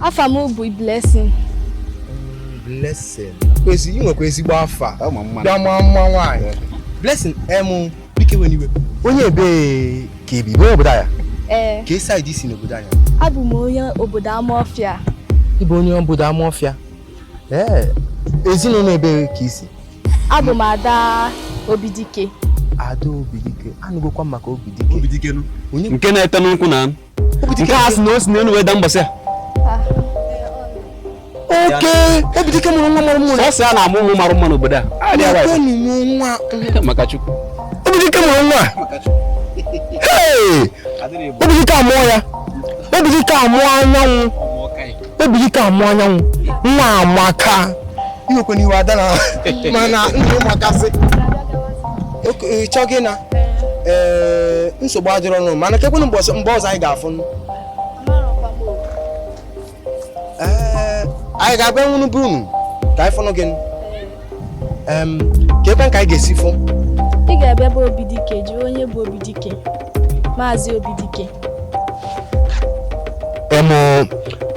afa m bụ Blessing Blessing kwezi ị nwekwa ezigbo afa Ọ ma mma. bịa maa mma nwaanyị Blessing em biko ewena iwe onye ebe ka ị bụ n'obodo a ee kee side i si n'obodo anyị abụ m onye obodo Amaọfịa ị bụ onye obodo Amaọfịa ee ezinụlọ ebe ka i si abụ m ada Obidike ada Obidike anụgokwa m maka Obidike Obidike nụ. onye nke na-ete nkwụ na nke a sị na o si n'elu wee daa mbọsị a okay Obidike mụrụ nwa mara mma sọsọ a na-amụ ụmụ mara mma n'obodo a Ah, dị agwa Ekwenụ m nwa ya. maka Chukwu Obidike mụrụ nwa Hey! Obidike amụọ ya Obidike amụọ anyanwụ Obidike amụọ anyanwụ nwa amaka ewekwana iwe ada na mana ndị ụmụakasị chọọ gị na ee nsogbu adịrọ nụ mana kekwenụ mgbe ọzọ anyị ga-afụ ee anyị ga-abịanwuru be unu ka anyị fụnụ gị keekwa ka anyị ga-esi fụ ị ga-abịa be Obidike jiri onye bụ Obidike maazị Obidike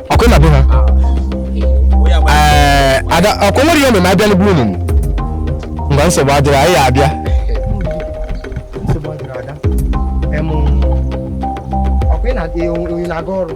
okay na be ha ada ọkwa o nwere ihe omume abịanwu be unu ngwa nsogbu adịrọ anyị abịa ọkwa ị na-aga ọrụ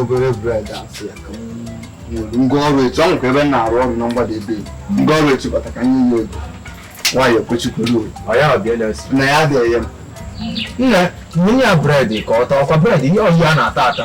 obere bred asị ya ka ngwa ọrụ etu ahụ ka ebe m na-arụ ọrụ na mgbada ebe ngwa ọrụ etu bata ka anyị yi ego nwaanyị ekwechikwuru na ya adịghị ya nne nye ya bred ka ọ taa ọkwa bred ihe ọhịa a na-ata ata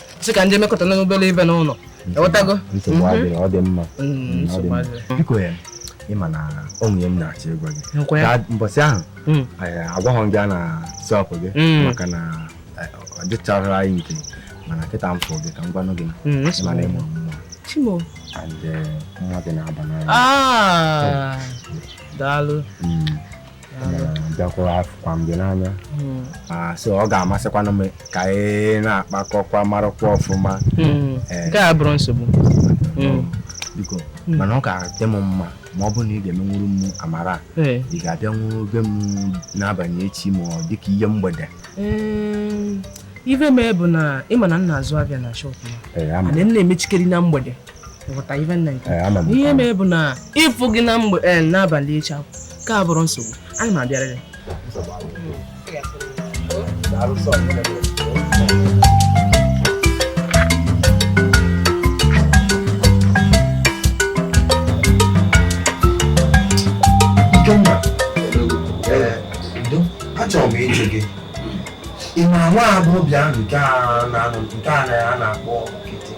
sị ka m je mekọta na obere ife n'ụlọ ewetago nsogbu adịrọ ọ dị mma Mm, Mm, ọ dị nsogbu mma. adịrọ. biko ya ị ma na o nwe ihe m na-achọ ịgwa gị Nkwa ya. Gaa- mbọsị ahụ Mm. anyị agwaghọ gị ya na shop gị Mm. maka na eh, ọ dịchara anyị nke mana kịta m fụ gị ka m gwanụ gị Mm, nsogbu mana ịmụ nwa chi m o and eh, nwa gị na-aba n'anya Ah, daalụ Mm. bịakwara afụkwa m gị n'anya hmm. so ọ ga-amasịkwanụ m ka anyị na-akpakọkwa marakwa ọfụma hmm. eh. nke abụrọ nsogbu hmm. biko mana ọ ga-adị m mma ma ọ bụrụ na ị ga-emenwuru m amara eh. ị ga-abịanwuru be m n'abalị echi ma ọ dịka ihe mgbede eh, ife mee bụ na ị ma na m na-azụ afịa na shọpụ m na-emechikarị na mgbede ihe mee bụ na ịfụ gị na mgbede n'abalị echi ka bụrụ nsogbu ana m abịarịrị achọrọ m ịjụ gị ị ma nwa agbọghọbịa ahụ nke a na-akpọ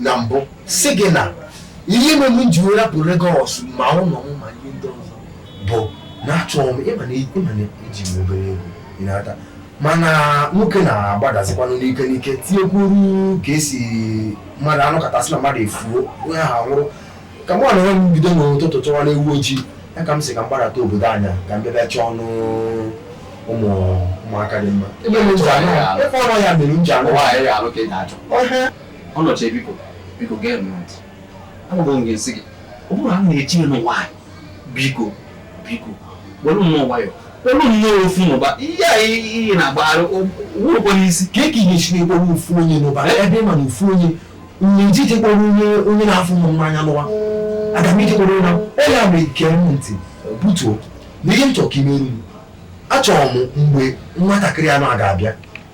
na mbụ sị gị na ihe mere m ji rapụ Lagos ma ụlọ m ma ihe ndị ọzọ bụ na achọghị m ịma na eji m obere ego ịnata mana nwoke na-agbadazikwanụ n'ike n'ike tinyekwuru ka esi mmadụ anụ katasị na mmadụ efuo onye ahụ anwụrụ ka m na m bido n'ụtụtụ chọwa na ewu ojii ya ka m sị ka m gbadata obodo anyị ka m bịabịa chọọnụ ụmụ ụmụaka dị mma ebe m ji anụ ya mere m ji anụ Ọnọchie biko biko gee m ntị agwagwo m ga-esi gị ọ bụrụ na m na-eji ya n'ụwa anyị biko biko were nnọọ nwayọ were nnọọ ofu n'ụba ihe a ihe na-agbagharị wụrụkwa n'isi ka e ka ihe si na-ekpọrọ ofu onye n'ụba ebe m ma na ofu onye nyeji jekpọrọ onye onye na-afụ m n'anya n'ụwa aga m ijekpọrọ onye na- ọ ya mere gee m ntị butuo na ihe m chọrọ ka i meru m achọrọ m mgbe nwatakịrị anụ a ga-abịa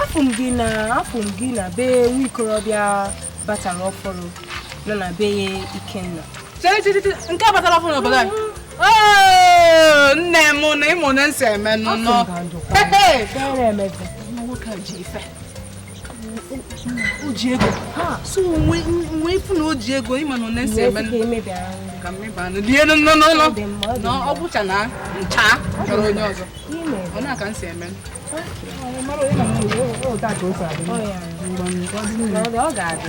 afụ m gị na afụ m gị na be nwa okorobịa batara ọfụrụ nọ na be ya Ikenna nke a batara ọfụrụ n'obodo anyị nne m na ịmụ na m si eme nụnụ o ji ego so nwee ị fụ na o ji ego ị ma na one m si eme ka m meba anụ lie n'ụlọ na ọ gwụcha na ncha chọrọ onye ọzọ ọ na-aka m si eme ọ ga-adị